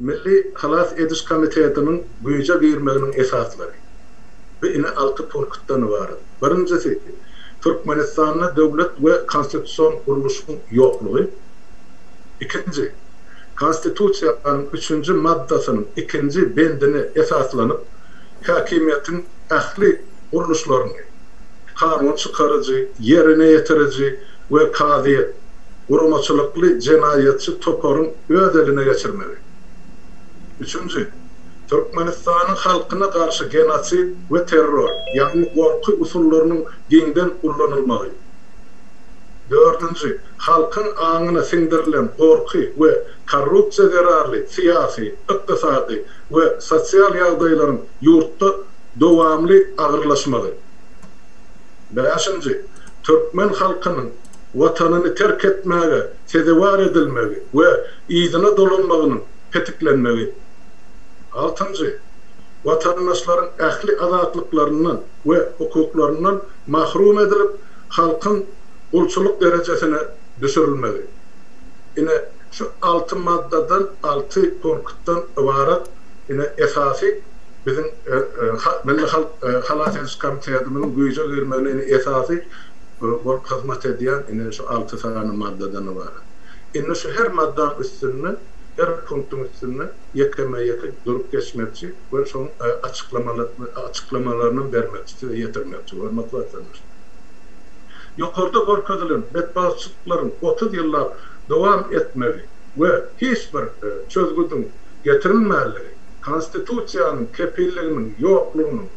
Milli halas ediş komitetiniň güýje girmeginiň esaslary, bi ine alty punktdan ybarat. Birinjisi, Türkmenistanda döwlet we konstitusion gurluşyň ýoklugy. Ikinji, Konstitusiýanyň üçünji maddasynyň ikinji bendine esaslanyp, häkimiýetiň ähli gurluşlaryny, kanun çykaryjy, ýerine ýetiriji we kazyýet, guramaçylykly jenaýatçy toparyň öz eline geçirmegi. Üçünji, Türkmenistanyň halkyna garşy genosid we terror, ýagny gorky usullarynyň giňden ullanylmagy. Dördünji, halkyň aňyna siňdirilen gorky we korrupsiýa zerarly syýasy, ykdysady we sosial ýagdaýlaryň ýurtda dowamly agyrlaşmagy. Bäşinji, türkmen halkynyň Watanyny terk etmäge sezewar edilmegi we yzyna dolanmagynyň petiklenmegi. Altynjy, watandaşlaryň ähli azatlyklaryndan we hukuklaryndan mahrum edilip, halkyň gulçulyk derejesine düşürilmegi. Ine, şu alty maddadan, alty punktdan ybarat, ine, esasy. Biziň Milli halk halas ediş komitetimiziň güýje girmegine indi esasy bolup hyzmat edýän indi şu alty sany maddadan ybarat. Indi şu her maddanyň üstünde, her punktyň üstünde ýekeme-ýeke durup geçmekçi we şoň açyklamalaryny bermekçi, size ýetirmekçi, hormatly watandaşlar. Ýokarda görkezilen betbagtçylyklaryň otuz ýyllap dowam etmegi we hiç bir çözgüdiň getirilmänligi, Konstitusiýanyň kepilliginiň ýoklugynyň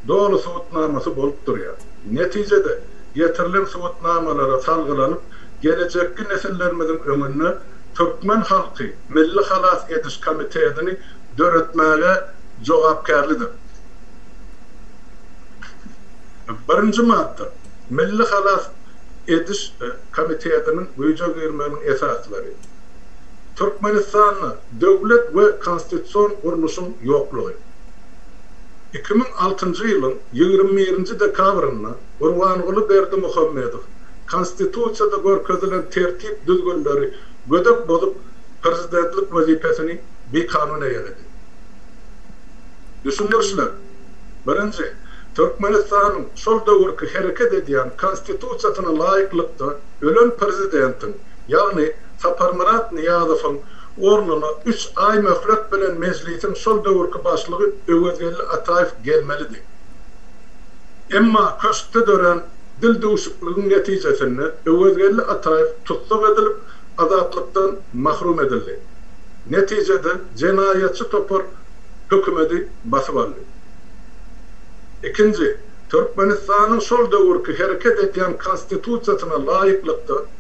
doly subutnamasy bolup durýar. Netijede, getirilen subutnamalara salgylanyp, gelejekki nesillerimiziň öňünde türkmen halky Milli halas ediş komitetini döretmäge jogapkärlidir. Birinji madda. Milli halas ediş komitetiniň güýje girmeginiň esaslary. Türkmenistanda. Döwlet we konstitusion gurluşyň ýoklugy. Iki müň altynjy ýylyň ýigrimi birinji dekabrynda Gurbanguly Berdimuhamedow Konstitusiýada görkezilen tertip-düzgünleri gödek bozup, prezidentlik wezipesini bikanun eýeledi. Düşündirişler. Birinji, Türkmenistanyň şol döwürki hereket edýän Konstitusiýasyna laýyklykda ölen prezidentiň, ýagny Saparmyrat Nyýazowyň ornuna üç aý möhlet bilen Mejlisiň şol döwürki başlygy Öwezgeldi Ataýew gelmelidi. Emma köşkde dörän dildüwşükligiň netijesinde Öwezgeldi Ataýew tussag edilip, azatlykdan mahrum edildi. Netijede jenaýatçy topar hökümeti basyp aldy. Ikinji, Türkmenistanyň şol döwürki hereket edýän Konstitusiýasyna laýyklykda,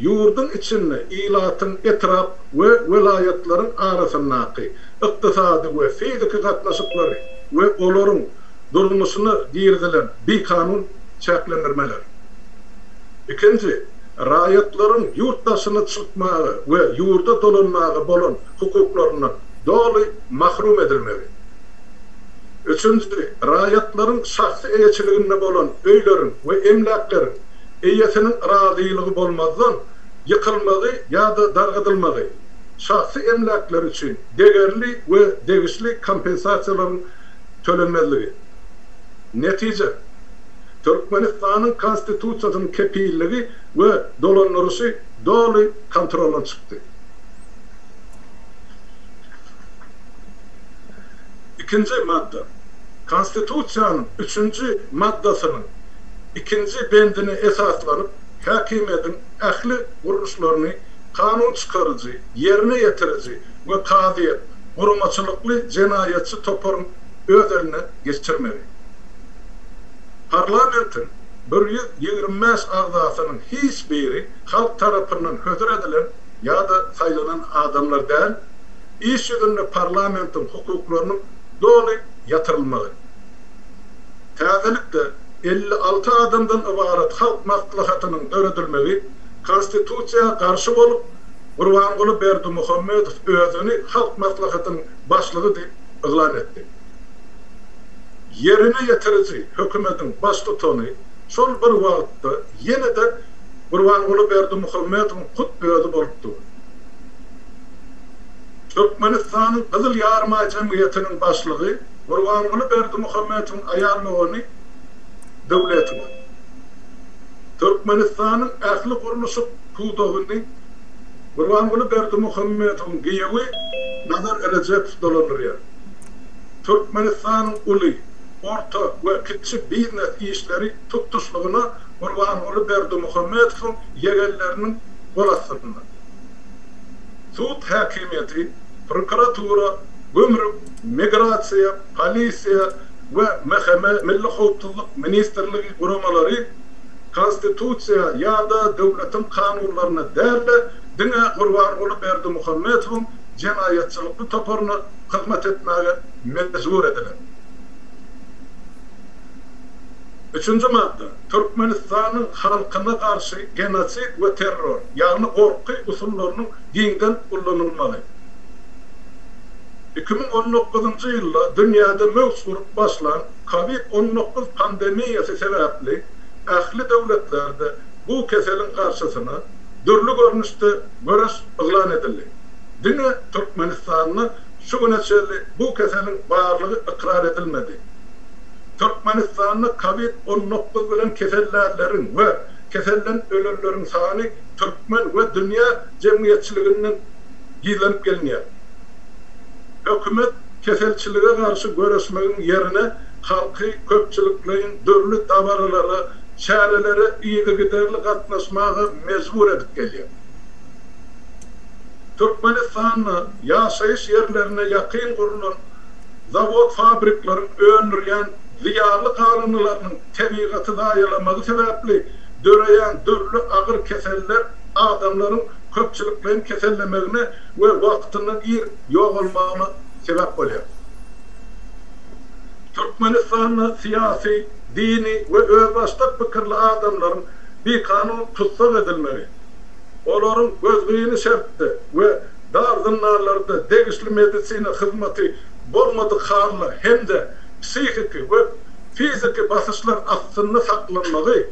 Ýurduň içinde, ilatyň, etrap we welaýatlaryň arasyndaky ykdysady we fiziki gatnaşyklary we olaryň durmuşyna girizilen bikanun çäklendirmeler. Ikinji, raýatlaryň ýurt daşyna çykmaga we ýurda dolanmaga bolan hukuklaryndan doly mahrum edilmegi. Üçünji, raýatlaryň şahsy eýeçiliginde bolan öýleriň we emläkleriň eýesiniň razylygy bolmazdan ýykylmagy ýa-da dargadylmagy, şahsy emläkleri üçin degerli we degişli kompensasiýalaryň tölenmezligi. Netije, Türkmenistanyň Konstitusiýasynyň kepilligi we dolandyryşy doly kontroldan çykdy. Ikinji madda. Konstitusiýanyň üçünji maddasynyň ikinji bendine esaslanyp, häkimiýetiň ähli gurluşlaryny kanun çykaryjy, ýerine ýetiriji we kazyýet, guramaçylykly jenaýatçy toparyň öz eline geçirmegi. Parlamentiň bir ýüz ýigrimi bäş agzasynyň hiç biri halk tarapyndan hödür edilen ýa-da saýlanan adamlar däl, iş ýüzünde parlamentiň hukuklarynyň doly ýatyrylmagy. Täzelikde, elli alty adamdan ybarat Halk Maslahatynyň döredilmegi Konstitusiýa garşy bolup, Gurbanguly Berdimuhamedow özüni Halk Maslahatynyň başlygy diýip yglan etdi. Ýerine ýetiriji hökümetiň baştutany şol bir wagtda ýene-de Gurbanguly Berdimuhamedowyň hut özi bolup dur. Türkmenistanyň Gyzyl Ýarymaý jemgyýetiniň başlygy, Gurbanguly Berdimuhamedowyň aýal dogany Döwletowa Türkmenistanyň ähli gurluşyk pudagyny Gurbanguly Berdimuhamedowyň giýewi Nazar Rejepow dolandyrýar. Türkmenistanyň uly, orta we kiçi biznes işleri tutuşlygyna Gurbanguly Berdimuhamedowyň ýegenleriniň gol astynda. Sud häkimiýeti, prokuratura, gümrük, Migrasiýa, Polisiýa we MHM, Milli howpsuzlyk ministrligi, guramalary Konstitusiýa ýa-da döwletiň kanunlaryna däl-de, diňe Gurbanguly Berdimuhamedowyň jenaýatçylykly toparyna hyzmat etmäge mejbur ediler. Üçünji madda. Türkmenistanyň halkyna garşy genosid we terror, ýagny gorky usullarynyň giňden ullanylmagy. Iki müň on dokuzynjy ýylda dünýäde möwç urup başlan Covid on dokuz pandemiýasy sebäpli ähli döwletlerde bu keseliň garşysyna dürli görnüşde göreş yglan edildi. Diňe Türkmenistanda şu güne çenli bu keseliň barlygy ykrar edilmedi. Türkmenistanda Covid on dokuz bilen kesellänleriň we keselden ölenleriň sany türkmen we dünýä jemgyýetçiliginden gizlenip gelinýär. Hökümet keselçilige garşy göreşmegiň ýerine halky köpçülikleýin dürli dabaralara, çärelere yzygiderli gatnaşmaga mejbur edip gelýär. Türkmenistanda ýaşaýyş ýerlerine ýakyn gurlan zawod-fabrikleriň öndürýän zyýanly galyndylarynyň tebigaty zaýalamagy sebäpli döreýän dürli agyr keseller, adamlaryň köpçülikleýin kesellemegine we wagtyndan ir ýogalmagyna sebäp bolýar. Türkmenistanda syýasy, dini we özbaşdak pikirli adamlaryň bikanun tussag edilmegi, olaryň gözgyny şertde we dar zyndanlarda degişli medisina hyzmaty bolmadyk halda hem-de psihiki we fiziki basyşlar astynda saklanmagy,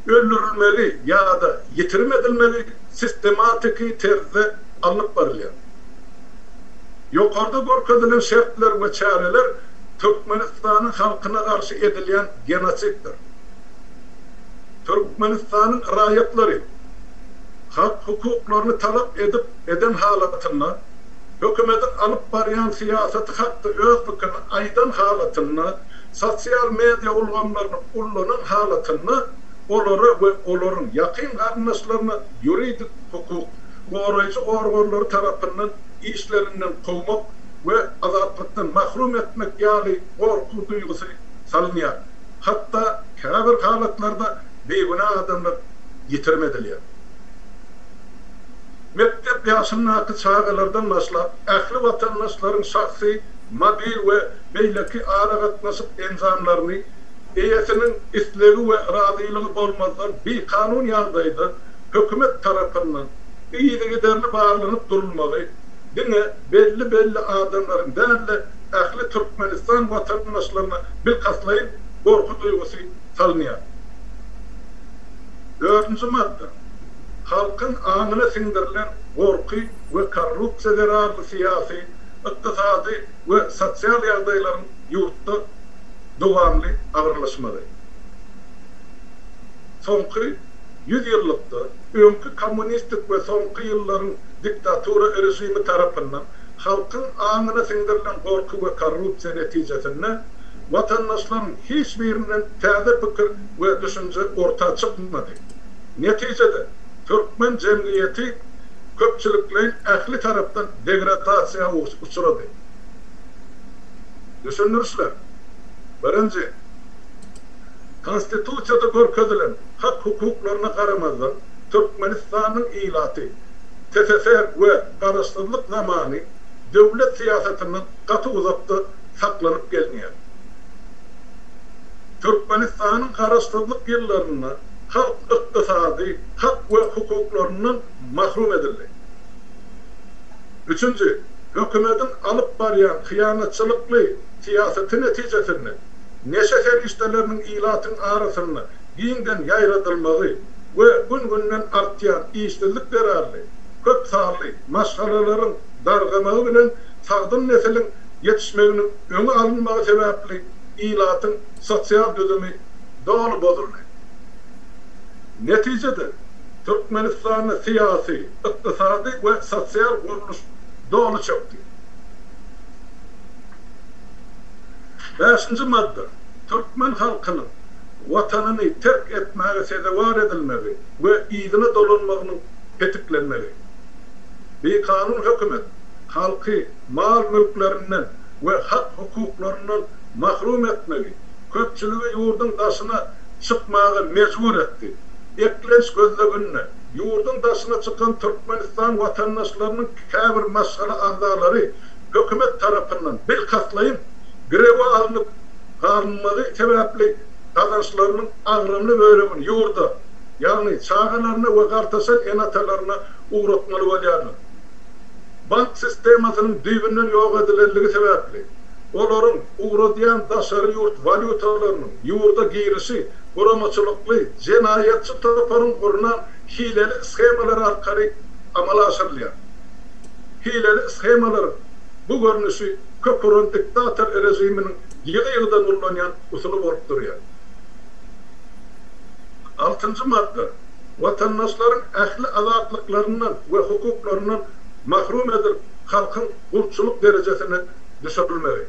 öldürilmegi ýa-da ýitirim edilmegi sistematiki terzde alnyp barylýar. Ýokarda görkezilen şertler we çäreler Türkmenistanyň halkyna garşy edilýän genosiddir. Türkmenistanyň raýatlary hak hukuklaryny talap edip eden halatynda, hökümetiň alyp barýan syýasaty hakda öz pikirini aýdan halatynda, Sosial media ulgamlaryny ullanan halatynda olara we olaryň ýakyn garyndaşlaryna ýuridik hukuk goraýjy organlary tarapyndan işlerinden kowmak we azatlykdan mahrum etmek ýaly gorky duýgusy salynýar, hatda käbir halatlarda bigünä adamlar ýitirim edilýär. Mekdep ýaşyndaky çagalardan başlap, ähli watandaşlaryň şahsy, mobil we beýleki aragatnaşyk enjamlaryny eýesiniň islegi we razylygy bolmazdan bikanun ýagdaýda hökümet tarapyndan yzygiderli barlanyp durulmagy diňe belli-belli adamlaryň däl-de, ähli Türkmenistan watandaşlaryna bilkastlaýyn gorky duýgusy salynýar. Dördünji madda. Halkyň aňyna siňdirilen gorky we korrupsiýa zerarly syýasy, Ykdysady we sosial ýagdaýlaryň ýurtda dowamly agyrlaşmagy. Soňky ýüz ýyllykda öňki kommunistik we soňky ýyllaryň diktatura režimi tarapyndan halkyň aňyna siňdirilen gorky we korrupsiýa netijesinde watandaşlaryň hiç birinden täze pikir we düşünje orta çykmady. Netijede, türkmen jemgyýeti köpçülikleýin ähli tarapdan degradasiýa uçrady. Düşündirişler. Birinji. Konstitusiýada görkezilen hak-hukuklaryna garamazdan, Türkmenistanyň ilaty TSSR we Garaşsyzlyk zamany döwlet syýasatyndan gaty uzakda saklanyp gelinýär. Türkmenistanyň Garaşsyzlyk ýyllarynda halk ykdysady hak we hukuklaryndan mahrum edildi. Üçünji, hökümetiň alyp barýan hyýanatçylykly syýasaty netijesinde neşe serişdeleriniň ilatyň arasynda giňden ýaýradylmagy we gün-günden artýan işsizlik zerarly köp sanly maşgalalaryň dargamagy bilen sagdyn nesiliň ýetişmeginiň öňi alynmagy sebäpli ilatyň sosial düzümi doly bozuldy. Netijede, Türkmenistanda syýasy, ykdysady we sosial gurluş doly çökdi. Bäşinji madda. Türkmen halkynyň Watanyny terk etmäge sezewar edilmegi we yzyna dolanmagynyň petiklenmegi. Bikanun hökümet halky mal-mülklerinden we hak-hukuklaryndan mahrum etmegi, köpçüligi ýurduň daşyna çykmaga mejbur etdi. Eklenç gözleginde, ýurduň daşyna çykan Türkmenistan watandaşlarynyň käbir maşgala agzalary hökümet tarapyndan bilkastlaýyn girewe alnyp galynmagy sebäpli gazançlarynyň agramly bölegini ýurda, ýagny çagalaryna we gartaşan ene-atalaryna ugratmaly bolýarlar. bank sistemasynyň düýbünden ýok edilenligi sebäpli, olaryň ugradýan daşary ýurt walýutalarynyň ýurda girişi guramaçylykly jenaýatçy toparyň gurnan hileli shemalary arkaly amala aşyrylýar. Hileli shemalaryň bu görnüşi kök uran diktator režiminiň ýygy-ýygydan ullanýan usuly bolup durýar. Altynjy madda. watandaşlaryň ähli azatlyklaryndan we hukuklaryndan mahrum edilip, halkyň gulçulyk derejesine düşürilmegi.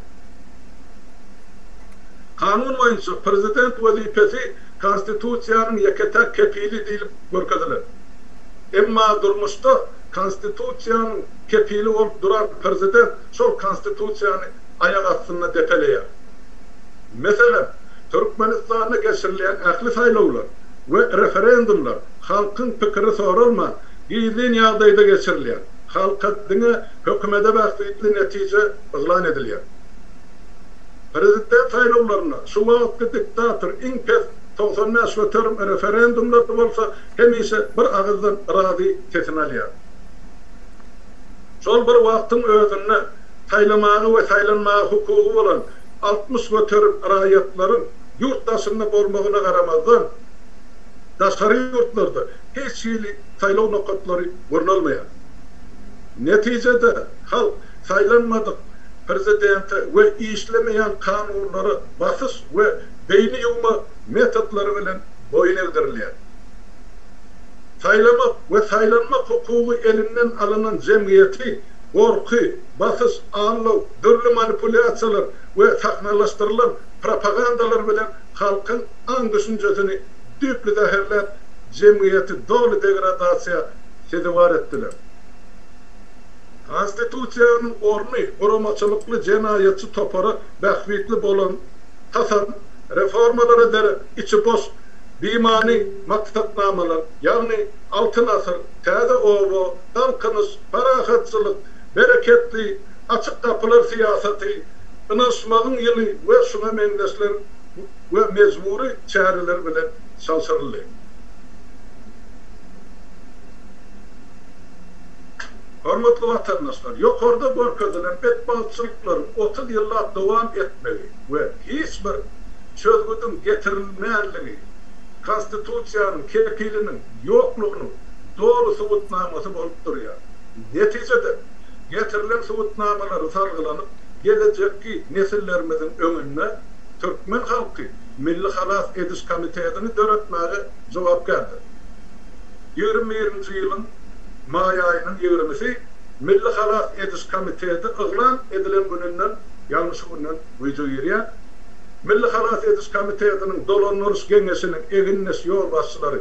Kanun boýunça Prezident wezipesi Konstitusiýanyň ýeke-täk kepili diýlip görkezilen. Emma durmuşda Konstitusiýanyň kepili bolup duran Prezident şol Konstitusiýany aýak astynda depeleýär. Meselem, Türkmenistanda geçirilýän ähli saýlawlar we referendumlar halkyň pikiri soralman, gizlin ýagdaýda geçirilýär. Halka diňe hökümete bähbitli netije yglan edilýär. Prezident saýlawlarynda şu wagtky diktator iň pes togsan bäş göterim, referendumlarda bolsa hemişe bir agyzdan yrazy sesini alýar. Şol bir wagtyň özünde, saýlamaga we saýlanmaga hukugy bolan altmyş göterim raýatlaryň ýurt daşynda bolmagyna garamazdan, daşary ýurtlarda hiç hili saýlaw nokatlary gurnalmaýar. Netijede, halk saýlanmadyk prezidente we işlemeýän kanunlara basyş we beýni ýuwma metodlary bilen boýun egdirilýär. Saýlamak we saýlanmak hukugy elinden alynan jemgyýeti gorky, basyş, aldaw, dürli manipulýasiýalar we sahnalaşdyrylan propagandalar bilen halkyň aň-düşünjesini düýpli zäherläp, jemgyýeti doly degradasiýa sezewar etdiler. Konstitusiýanyň orny guramaçylykly jenaýatçy topara bähbitli bolan tasam, reformalara derek içi boş, bimany maksatnamalar, ýagny Altyn asyr, Täze oba, Galkynyş, parahatçylyk, bereketli, açyk gapylar syýasaty, ynanyşmagyň ýyly we şuňa meňzeşler we mejbury çäreler bilen çalşyryldy. Hormatly watandaşlar, ýokarda görkezilen betbagtçylyklaryň otuz ýyllap dowam etmegi we hiç bir çözgüdiň getirilmänligi, Konstitusiýanyň kepiliniň ýoklugynyň, doly subutnamasy bolup durýar. Netijede, getirilen subutnamalary salgylanyp, gelejekki nesillerimiziň öňünde türkmen halky Milli halas ediş komitetini döretmäge jogapkärdir. Ýigrimi birinji ýylyň maý aýynyň ýigrimisi Milli halas ediş komiteti yglan edilen gününden, ýagny şu günden güýje girýär. Milli halas ediş komitetiniň dolandyryş geňeşiniň egindeş ýolbaşçylary,